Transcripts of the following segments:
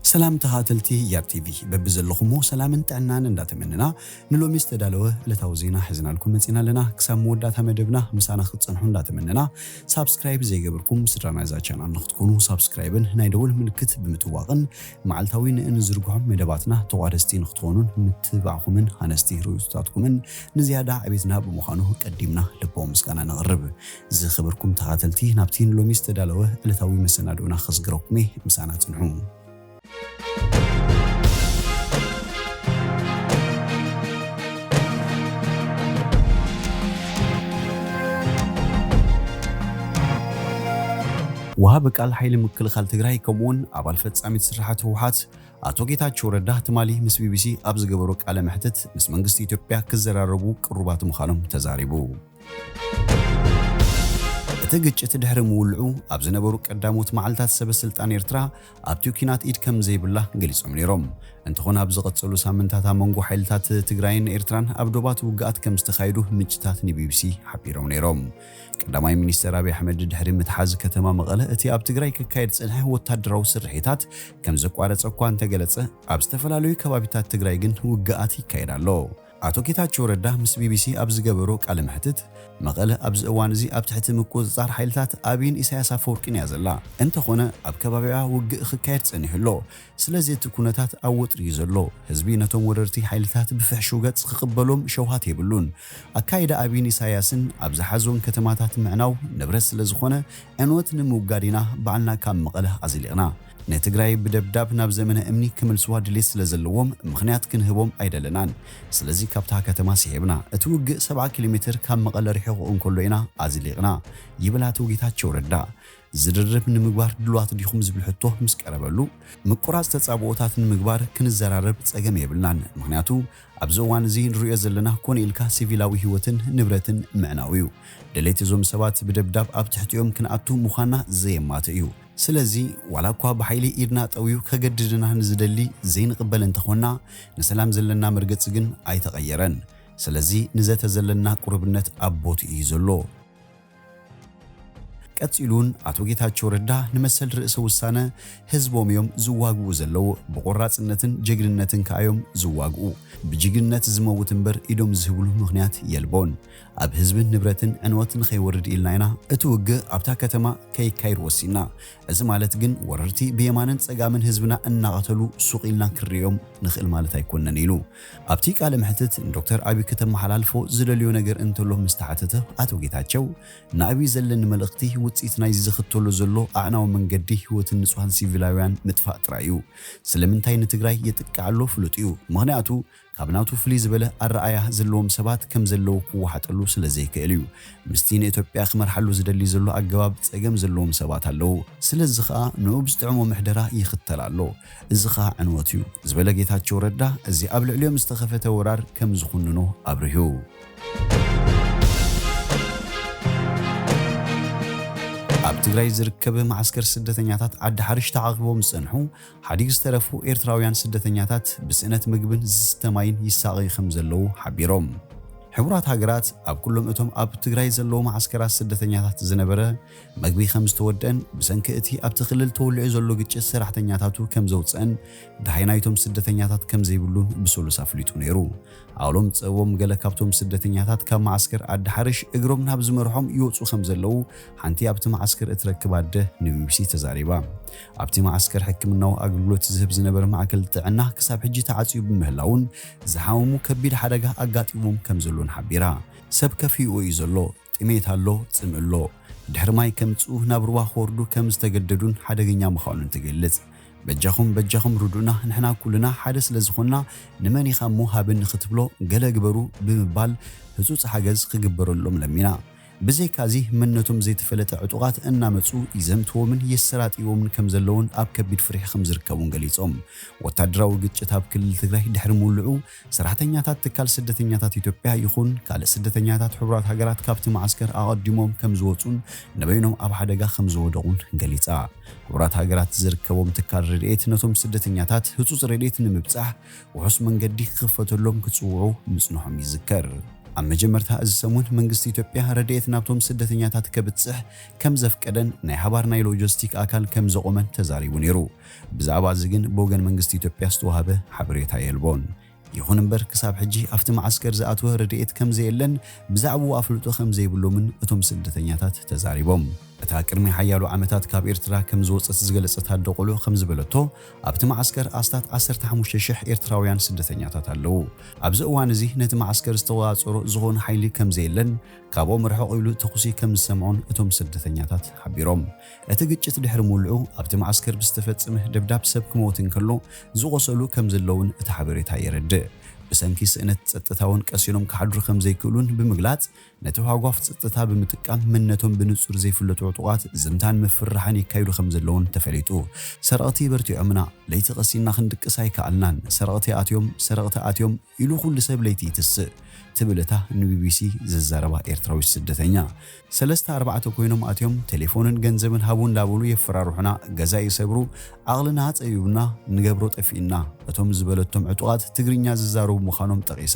ሰላም ተኻተልቲ ያብ ቲቪ በብዘለኹሞ ሰላምን ጥዕናን እንዳተመነና ንሎሚ ዝተዳለወ ዕለታዊ ዜና ሕዝናልኩም መጺና ኣለና ክሳብ መወዳእታ መደብና ምሳና ክትጸንሑ እንዳተመነና ሳብስክራይብ ዘይገበርኩም ስድራ ናይዛ ቻናል ንክትኮኑ ሳብስክራይብን ናይ ደወል ምልክት ብምጥዋቕን መዓልታዊ ንእንዝርግሖም መደባትና ተቋደስቲ ንክትኾኑን ምትብባዕኹምን ሃነስቲ ርእይቶታትኩምን ንዝያዳ ዕቤትና ብምዃኑ ቀዲምና ልባዊ ምስጋና ነቕርብ። ዝኸበርኩም ተኻተልቲ ናብቲ ንሎሚ ዝተዳለወ ዕለታዊ መሰናድኡና ከስግረኩም'የ ምሳና ጽንሑ። ወሃቢ ቃል ሓይሊ ምክልኻል ትግራይ ከምኡ'ውን ኣባል ፈጻሚት ስርሓት ህወሓት ኣቶ ጌታቸው ረዳ ትማሊ ምስ ቢቢሲ ኣብ ዝገበሮ ቃለ መሕትት ምስ መንግስቲ ኢትዮጵያ ክዘራረቡ ቅሩባት ምዃኖም ተዛሪቡ። እቲ ግጭት ድሕሪ ምውልዑ ኣብ ዝነበሩ ቀዳሞት መዓልታት ሰበ ስልጣን ኤርትራ ኣብቲ ኲናት ኢድ ከም ዘይብላ ገሊጾም ነይሮም። እንተኾነ ኣብ ዝቐጸሉ ሳምንታት ኣብ መንጎ ሓይልታት ትግራይን ኤርትራን ኣብ ዶባት ውግኣት ከም ዝተኻየዱ ምንጭታት ንቢቢሲ ሓቢሮም ነይሮም። ቀዳማይ ሚኒስተር ኣብይ ኣሕመድ ድሕሪ ምትሓዝ ከተማ መቐለ እቲ ኣብ ትግራይ ክካየድ ዝጸንሐ ወታደራዊ ስርሒታት ከም ዘቋረጸ እኳ እንተገለጸ ኣብ ዝተፈላለዩ ከባቢታት ትግራይ ግን ውግኣት ይካየድ ኣሎ። ኣቶ ጌታቸው ረዳ ምስ ቢቢሲ ኣብ ዝገበሮ ቃለ መሕትት፣ መቐለ ኣብዚ እዋን እዚ ኣብ ትሕቲ ምቁጽጻር ሓይልታት ኣብይን ኢሳያስ ኣፈወርቂን እያ ዘላ፣ እንተኾነ ኣብ ከባቢኣ ውግእ ኽካየድ ጸኒሑ ኣሎ፣ ስለዚ እቲ ኩነታት ኣብ ወጥሪ እዩ ዘሎ፣ ህዝቢ ነቶም ወረርቲ ሓይልታት ብፍሕሹው ገጽ ኽቕበሎም ሸውሃት የብሉን፣ ኣካይዳ ኣብይን ኢሳያስን ኣብ ዝሓዞን ከተማታት ምዕናው ንብረት ስለዝኾነ ዕንወት ንምውጋድ ኢና ባዕልና ካብ መቐለ ኣዝሊቕና ንትግራይ ብደብዳብ ናብ ዘመነ እምኒ ክምልስዋ ድሌት ስለ ዘለዎም ምኽንያት ክንህቦም ኣይደለናን። ስለዚ ካብታ ከተማ ስሒብና፣ እቲ ውግእ ሰብዓ ኪሎ ሜትር ካብ መቐለ ርሒቑ እንከሎ ኢና ኣዝሊቕና ይብል ኣቶ ጌታቸው ረዳ። ዝርርብ ንምግባር ድሉዋት ዲኹም ዝብል ሕቶ ምስ ቀረበሉ፣ ምቁራጽ ተጻብኦታት ንምግባር ክንዘራረብ ጸገም የብልናን፣ ምኽንያቱ ኣብዚ እዋን እዚ ንርእዮ ዘለና ኮነ ኢልካ ሲቪላዊ ህይወትን ንብረትን ምዕናው'ዩ። ድሌት እዞም ሰባት ብደብዳብ ኣብ ትሕቲኦም ክንኣቱ ምዃንና ዘየማትእ'ዩ። ስለዚ ዋላ እኳ ብሓይሊ ኢድና ጠውዩ ከገድድና ንዝደሊ ዘይንቕበል እንተኾንና ንሰላም ዘለና መርገጺ ግን ኣይተቐየረን። ስለዚ ንዘተ ዘለና ቁርብነት ኣብ ቦትኡ እዩ ዘሎ። ቀጺሉውን ኣቶ ጌታቸው ረዳ ንመሰል ርእሰ ውሳነ ህዝቦም እዮም ዝዋግኡ ዘለው። ብቆራጽነትን ጀግንነትን ከኣ እዮም ዝዋግኡ። ብጅግንነት ዝመውት እምበር ኢዶም ዝህብሉ ምኽንያት የልቦን። ኣብ ህዝብን ንብረትን ዕንወት ንኸይወርድ ኢልና ኢና እቲ ውግእ ኣብታ ከተማ ከይካየድ ወሲንና። እዚ ማለት ግን ወረርቲ ብየማንን ፀጋምን ህዝብና እናቐተሉ ሱቕ ኢልና ክንርእዮም ንኽእል ማለት ኣይኮነን ኢሉ። ኣብቲ ቃለ መሕትት ንዶክተር ኣቢይ ክተመሓላልፎ ዝደልዮ ነገር እንተሎ ምስ ተሓተተ ኣቶ ጌታቸው ንኣቢይ ዘለኒ መልእኽቲ ውፅኢት ናይዚ ዝኽተሎ ዘሎ ኣዕናዊ መንገዲ ህይወትን ንፁሃን ሲቪላዊያን ምጥፋእ ጥራይ እዩ። ስለምንታይ ንትግራይ የጥቅዕ ኣሎ ፍሉጥ እዩ። ምኽንያቱ ካብ ናቱ ፍልይ ዝበለ ኣረኣእያ ዘለዎም ሰባት ከም ዘለዉ ክወሓጠሉ ስለ ዘይክእል እዩ ምስቲ ንእትዮጵያ ክመርሓሉ ዝደሊ ዘሎ ኣገባብ ጸገም ዘለዎም ሰባት ኣለዉ። ስለዚ ከኣ ንኡ ብዝጥዕሞ ምሕደራ ይኽተል ኣሎ። እዚ ከኣ ዕንወት እዩ ዝበለ ጌታቸው ረዳ እዚ ኣብ ልዕሊኦም ዝተኸፈተ ወራር ከም ዝኹንኖ ኣብሪሁ። ኣብ ትግራይ ዝርከብ መዓስከር ስደተኛታት ዓዲ ሓርሽ ተዓቚቦም ዝጸንሑ ሓዲግ ዝተረፉ ኤርትራውያን ስደተኛታት ብስእነት ምግብን ዝስተ ማይን ይሳቐዩ ከምዘለዉ ሓቢሮም። ሕቡራት ሃገራት ኣብ ኩሎም እቶም ኣብ ትግራይ ዘለዉ መዓስከራት ስደተኛታት ዝነበረ መግቢ ከምዝተወደኣን ብሰንኪ እቲ ኣብቲ ክልል ተወሊዑ ዘሎ ግጭት ሰራሕተኛታቱ ከምዘውጽኣን ደሃይ ናይቶም ስደተኛታት ከምዘይብሉን ብሰሉስ ኣፍሊጡ ነይሩ። ኣሎም ጸቦም ገለ ካብቶም ስደተኛታት ካብ መዓስከር ኣዲ ሓርሽ እግሮም ናብ ዝመርሖም ይወጹ ከምዘለዉ ሓንቲ ኣብቲ መዓስከር እትረክብ ኣደ ንቢቢሲ ተዛሪባ። ኣብቲ መዓስከር ሕክምናዊ ኣገልግሎት ዝህብ ዝነበረ ማእከል ጥዕና ክሳብ ሕጂ ተዓጽዩ ብምህላዉን ዝሓመሙ ከቢድ ሓደጋ ኣጋጢሞም ከምዘሎን ሓቢራ። ሰብ ከፊኡ እዩ ዘሎ፣ ጥሜት ኣሎ፣ ጽምኢ ኣሎ። ድሕሪ ማይ ከምጽኡ ናብ ሩባ ክወርዱ ከም ዝተገደዱን ሓደገኛ ምዃኑን ትገልጽ። በጃኹም በጃኹም ርዱእና ንሕና ኩልና ሓደ ስለ ዝኾንና ንመን ኢኻ እሞ ሃበኒ ክትብሎ ገለ ግበሩ ብምባል ህጹጽ ሓገዝ ክግበረሎም ለሚና። ብዘይካዚ መን ነቶም ዘይተፈለጠ ዕጡቓት እናመጹ ይዘምትዎምን የሰራጥይዎምን ከምዘለዉን ኣብ ከቢድ ፍርሒ ከምዝርከቡን ገሊጾም። ወታደራዊ ግጭት ኣብ ክልል ትግራይ ድሕሪ ምውልዑ ሰራሕተኛታት ትካል ስደተኛታት ኢትዮጵያ ይኹን ካልእ ስደተኛታት ሕቡራት ሃገራት ካብቲ መዓስከር ኣቐዲሞም ከምዝወጹን ንበይኖም ኣብ ሓደጋ ከምዝወደቑን ገሊጻ። ሕቡራት ሃገራት ዝርከቦም ትካል ረድኤት ነቶም ስደተኛታት ህጹጽ ረድኤት ንምብጻሕ ውሑስ መንገዲ ክኽፈተሎም ክጽውዑ ምጽንሖም ይዝከር። ኣብ መጀመርታ እዚ ሰሙን መንግስቲ ኢትዮጵያ ረድኤት ናብቶም ስደተኛታት ከብጽሕ ከም ዘፍቀደን ናይ ሃባር ናይ ሎጀስቲክ ኣካል ከም ዘቖመን ተዛሪቡ ነይሩ። ብዛዕባ እዚ ግን ብወገን መንግስቲ ኢትዮጵያ ዝተዋህበ ሓበሬታ የልቦን። ይኹን እምበር ክሳብ ሕጂ ኣብቲ መዓስከር ዝኣተወ ረድኤት ከም ዘየለን ብዛዕብኡ ኣፍልጦ ከም ዘይብሎምን እቶም ስደተኛታት ተዛሪቦም። እታ ቅድሚ ሓያሎ ዓመታት ካብ ኤርትራ ከም ዝወጸት ዝገለጸት ኣደ ቆልዑ ከም ዝበለቶ፣ ኣብቲ መዓስከር ኣስታት ዓሰርተ ሓሙሽተ ሽሕ ኤርትራውያን ስደተኛታት ኣለዉ። ኣብዚ እዋን እዚ ነቲ መዓስከር ዝተቖጻጸሮ ዝኾነ ሓይሊ ከምዘየለን ካብኦም ርሕቕ ኢሉ ተኹሲ ከምዝሰምዑን እቶም ስደተኛታት ሓቢሮም። እቲ ግጭት ድሕሪ ምውልዑ ኣብቲ መዓስከር ብዝተፈጸመ ደብዳብ ሰብ ክመውት እንከሎ ዝቖሰሉ ከምዘለዉን እቲ ሓበሬታ የረድእ። ብሰንኪ ስእነት ጸጥታ'ውን ቀሲኖም ክሓድሩ ከምዘይክእሉን ብምግላጽ፣ ነቲ ሃጓፍ ጸጥታ ብምጥቃም መንነቶም ብንጹር ዘይፍለጡ ዕጡቓት ዝምታን ምፍርራሕን የካይዱ ከም ዘለዉን ተፈሊጡ። ሰረቕቲ በርቲዖምና፣ ለይቲ ቀሲንና ክንድቅስ ኣይከኣልናን፣ ሰረቕቲ ኣትዮም፣ ሰረቕቲ ኣትዮም ኢሉ ኩሉ ሰብ ለይቲ ይትስእ ትብል እታ ንቢቢሲ ዝዛረባ ኤርትራዊት ስደተኛ። ሰለስተ ኣርባዕተ ኮይኖም ኣትዮም ቴሌፎንን ገንዘብን ሃቡ እንዳበሉ የፈራርሑና፣ ገዛ ይሰብሩ፣ ዓቕልና ጸቢቡና፣ ንገብሮ ጠፊኡና እቶም ዝበለቶም ዕጡቓት ትግርኛ ዝዛረቡ ምዃኖም ጠቒሳ።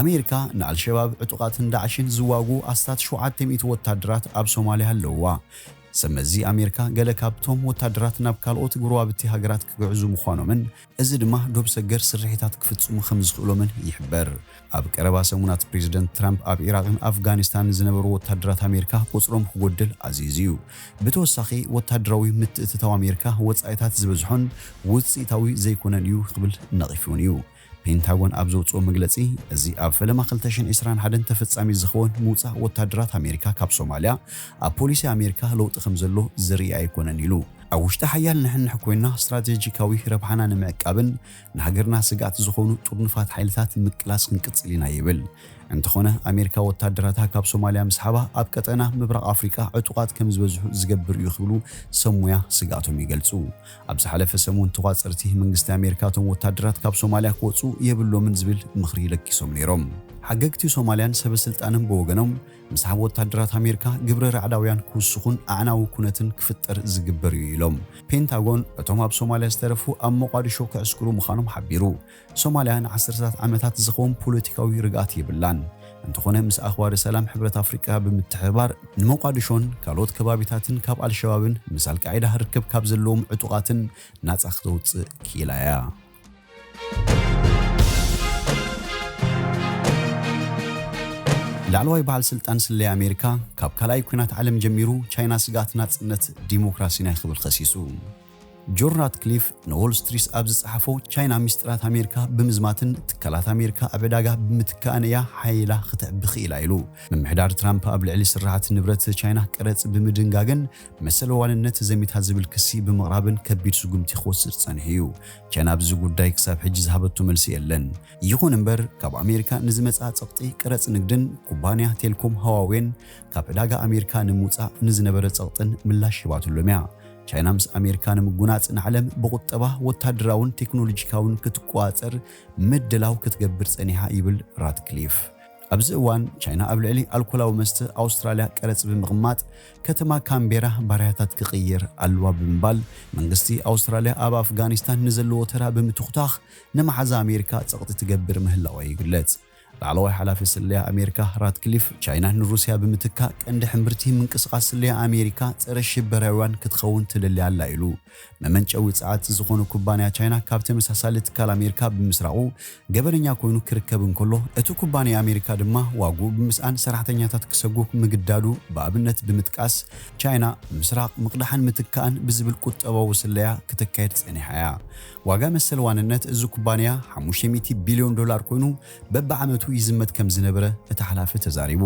ኣሜሪካ ንኣልሸባብ ዕጡቓትን ዳዕሽን ዝዋግኡ ኣስታት ሸውዓተ ሚእቲ ወታደራት ኣብ ሶማልያ ኣለዉዋ። ሰብ መዚ ኣሜሪካ ገለ ካብቶም ወታደራት ናብ ካልኦት ጎረባብቲ ሃገራት ክግዕዙ ምዃኖምን እዚ ድማ ዶብ ሰገር ስርሒታት ክፍጽሙ ከም ዝኽእሎምን ይሕበር። ኣብ ቀረባ ሰሙናት ፕሬዝደንት ትራምፕ ኣብ ዒራቕን ኣፍጋኒስታንን ዝነበሩ ወታደራት ኣሜሪካ ቁጽሮም ክጎድል ኣዚዙ'ዩ። ብተወሳኺ ወታደራዊ ምትእትታው ኣሜሪካ ወጻኢታት ዝበዝሖን ውጽኢታዊ ዘይኮነን እዩ ክብል ነቒፉ'ውን እዩ። ፔንታጎን ኣብ ዘውጽኦ መግለጺ፣ እዚ ኣብ ፈለማ ክልተ ሽሕን ዕስራን ሓደን ተፈጻሚ ዝኸውን ምውጻእ ወተሃደራት ኣሜሪካ ካብ ሶማልያ፣ ኣብ ፖሊሲ ኣሜሪካ ለውጢ ከም ዘሎ ዘርኢ ኣይኮነን ኢሉ። ኣብ ውሽጢ ሓያል ንሕንሕ ኮይንና ስትራቴጂካዊ ረብሓና ንምዕቃብን ንሃገርና ስግኣት ዝኾኑ ጥርኑፋት ሓይልታት ምቅላስ ክንቅጽል ኢና ይብል። እንተኾነ ኣሜሪካ ወተሃደራታ ካብ ሶማልያ ምስሓባ ኣብ ቀጠና ምብራቕ ኣፍሪቃ ዕጡቓት ከም ዝበዝሑ ዝገብር እዩ ክብሉ ሰብ ሞያ ስግኣቶም ይገልጹ። ኣብ ዝሓለፈ ሰሙን ተቋፀርቲ መንግስቲ ኣሜሪካ እቶም ወታደራት ካብ ሶማልያ ክወፁ የብሎምን ዝብል ምኽሪ ለጊሶም ነይሮም። ሓገግቲ ሶማልያን ሰበ ስልጣንን ብወገኖም ምስሓብ ወታደራት ኣሜሪካ ግብረ ራዕዳውያን ክውስኹን ኣዕናዊ ኩነትን ክፍጠር ዝግበር እዩ ኢሎም። ፔንታጎን እቶም ኣብ ሶማልያ ዝተረፉ ኣብ ሞቓድሾ ክዕስክሩ ምዃኖም ሓቢሩ። ሶማልያ ንዓሰርተታት ዓመታት ዝኸውን ፖለቲካዊ ርግኣት የብላን። እንተኾነ ምስ ኣኽባሪ ሰላም ሕብረት ኣፍሪቃ ብምትሕብባር ንሞቓድሾን ካልኦት ከባቢታትን ካብ ኣልሸባብን ምስ ኣልቃዒዳ ርክብ ካብ ዘለዎም ዕጡቓትን ናጻ ክተውጽእ ክኢላ እያ። ላዕለዋይ በዓል ስልጣን ስለያ ኣሜሪካ ካብ ካልኣይ ኲናት ዓለም ጀሚሩ ቻይና ስግኣት ናጽነት ዲሞክራሲን እያ ክብል ከሲሱ። ጆን ራትክሊፍ ንዎል ስትሪስ ኣብ ዝጸሓፎ፣ ቻይና ሚስጥራት ኣሜሪካ ብምዝማትን ትካላት ኣሜሪካ ኣብ ዕዳጋ ብምትካእን እያ ሓዪላ ኽትዕቢ ኽኢላ ኢሉ። ምምሕዳር ትራምፕ ኣብ ልዕሊ ስርሓት ንብረት ቻይና ቀረጽ ብምድንጋግን መሰለ ዋንነት ዘሚታ ዝብል ክሲ ብምቕራብን ከቢድ ስጉምቲ ክወስድ ጸኒሑ እዩ። ቻይና ኣብዚ ጉዳይ ክሳብ ሕጂ ዝሃበቶ መልሲ የለን። ይኹን እምበር ካብ ኣሜሪካ ንዝመጽኣ ጸቕጢ ቀረጽ ንግድን ኩባንያ ቴልኮም ህዋዌን ካብ ዕዳጋ ኣሜሪካ ንምውጻእ ንዝነበረ ጸቕጥን ምላሽ ሂባትሎም እያ። ቻይና ምስ ኣሜሪካ ንምጉናጽ ንዓለም ብቑጠባ፣ ወታደራውን ቴክኖሎጂካውን ክትቆጻጸር ምድላው ክትገብር ጸኒሓ ይብል ራትክሊፍ። ኣብዚ እዋን ቻይና ኣብ ልዕሊ ኣልኮላዊ መስተ ኣውስትራልያ ቀረጽ ብምቕማጥ ከተማ ካንቤራ ባርያታት ክቕይር ኣለዋ ብምባል መንግስቲ ኣውስትራልያ ኣብ ኣፍጋኒስታን ንዘለዎ ተራ ብምትኹታኽ ንመሓዛ ኣሜሪካ ጸቕጢ ትገብር ምህላዋ ይግለጽ። ላዕለዋይ ሓላፊ ስለያ ኣሜሪካ ራትክሊፍ፣ ቻይና ንሩስያ ብምትካእ ቀንዲ ሕምብርቲ ምንቅስቓስ ስለያ ኣሜሪካ ጸረ-ሽበራዊያን ክትኸውን ትደሊ ኣላ ኢሉ። መመንጨዊ ጸዓት ዝኾነ ኩባንያ ቻይና ካብ ተመሳሳሊ ትካል ኣሜሪካ ብምስራቑ ገበነኛ ኮይኑ ክርከብ እንከሎ፣ እቲ ኩባንያ ኣሜሪካ ድማ ዋግኡ ብምስኣን ሰራሕተኛታት ክሰጉግ ምግዳዱ ብኣብነት ብምጥቃስ፣ ቻይና ምስራቕ፣ ምቕዳሕን ምትካእን ብዝብል ቁጠባዊ ስለያ ክተካይድ ጸኒሓ እያ። ዋጋ መሰል ዋንነት እዚ ኩባንያ ሓሙሽተ ሚእቲ ቢልዮን ዶላር ኮይኑ በብዓመቱ ይዝመት ከምዝነበረ እቲ ሓላፊ ተዛሪቡ።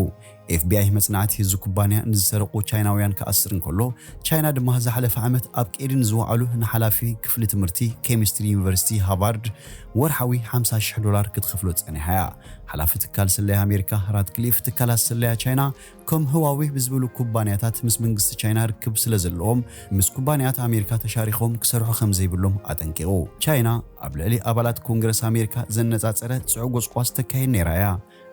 ኤፍቢኣይ መጽናዕቲ እዚ ኩባንያ ንዝሰረቑ ቻይናውያን ክኣስር እንከሎ፣ ቻይና ድማ ዝሓለፈ ዓመት ኣብ ቀይዲ ንዝወዓሉ ንሓላፊ ክፍሊ ትምህርቲ ኬሚስትሪ ዩኒቨርሲቲ ሃቫርድ ወርሓዊ ሓምሳ ሽሕ ዶላር ክትኸፍሎ ጸኒሓ'ያ። ሓላፊ ትካል ስለያ ኣሜሪካ ራትክሊፍ፣ ትካላት ስለያ ቻይና ከም ህዋዌ ብዝበሉ ኩባንያታት ምስ መንግስቲ ቻይና ርክብ ስለዘለዎም፣ ምስ ኩባንያት ኣሜሪካ ተሻሪኾም ክሰርሑ ከምዘይብሎም ኣጠንቂቑ። ቻይና ኣብ ልዕሊ ኣባላት ኮንግረስ ኣሜሪካ ዘነጻጸረ ጽዑቕ ጎስጓስ ተካይድ ነይራ እያ፣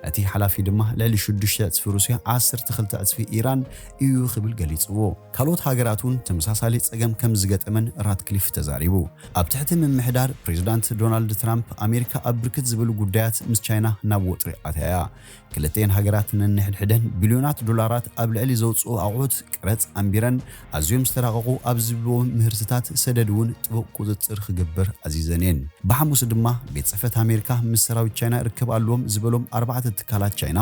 እቲ ሓላፊ ድማ ልዕሊ ሽዱሽተ ዕጽፊ ሩስያ ዓሰርተ ክልተ ዕጽፊ ኢራን እዩ ክብል ገሊጽዎ። ካልኦት ሃገራት'ውን ተመሳሳሊ ጸገም ከምዝገጠመን ራትክሊፍ ተዛሪቡ። ኣብ ትሕቲ ምምሕዳር ፕሬዝዳንት ዶናልድ ትራምፕ፣ ኣሜሪካ ኣብ ብርክት ዝበሉ ጉዳያት ምስ ቻይና ናብ ወጥሪ ኣትያ እያ። ክልቲኤን ሃገራት ነንሕድሕደን ቢልዮናት ዶላራት ኣብ ልዕሊ ዘውጽኡ ኣቑሑት ቀረጽ ኣንቢረን፣ ኣዝዮም ዝተራቐቑ ኣብ ዝብልዎ ምህርትታት ሰደድ እውን ጥቡቕ ቁጽጽር ክግበር ኣዚዘን እየን። ብሓሙስ ድማ ቤት ጽሕፈት ኣሜሪካ ምስ ሰራዊት ቻይና ርክብ ኣለዎም ዝበሎም ኣርባዕተ ትካላት ቻይና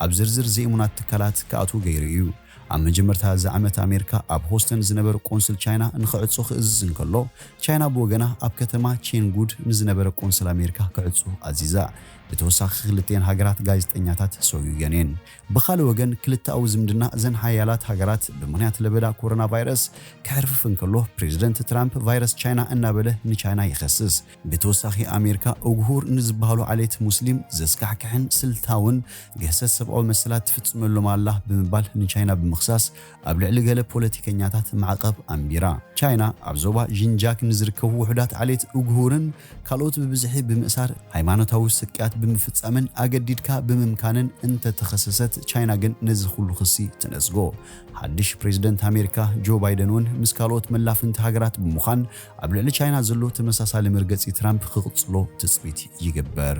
ኣብ ዝርዝር ዘይእሙናት ትካላት ክኣትዉ ገይሩ እዩ። ኣብ መጀመርታ እዚ ዓመት ኣሜሪካ ኣብ ሆስተን ዝነበረ ቆንስል ቻይና ንኽዕጾ ክእዝዝ እንከሎ፣ ቻይና ብወገና ኣብ ከተማ ቼንጉድ ንዝነበረ ቆንስል ኣሜሪካ ክዕጾ ኣዚዛ። ብተወሳኺ ክልቲኤን ሃገራት ጋዜጠኛታት ሰጉገን እየን። ብኻልእ ወገን ክልተኣዊ ዝምድና እዘን ሓያላት ሃገራት ብምኽንያት ለበዳ ኮሮና ቫይረስ ክሕርፍፍ እንከሎ ፕሬዝደንት ትራምፕ ቫይረስ ቻይና እናበለ ንቻይና ይኸስስ። ብተወሳኺ ኣሜሪካ ኡግሁር ንዝበሃሉ ዓሌት ሙስሊም ዘስካሕክሕን ስልታውን ግህሰት ሰብኣዊ መሰላት ትፍፅመሎም ኣላ ብምባል ንቻይና ብምኽሳስ ኣብ ልዕሊ ገለ ፖለቲከኛታት ማዕቐብ ኣንቢራ። ቻይና ኣብ ዞባ ዢንጃክ ንዝርከቡ ውሑዳት ዓሌት ኡግሁርን ካልኦት ብብዝሒ ብምእሳር፣ ሃይማኖታዊ ስቅያት ብምፍጻምን ኣገዲድካ ብምምካንን እንተተኸሰሰት፣ ቻይና ግን ነዚ ኹሉ ክሲ ትነጽጎ። ሓድሽ ፕሬዝደንት ኣሜሪካ ጆ ባይደን እውን ምስ ካልኦት መላፍንቲ ሃገራት ብምዃን ኣብ ልዕሊ ቻይና ዘሎ ተመሳሳሊ መርገጺ ትራምፕ ክቕጽሎ ትጽቢት ይግበር።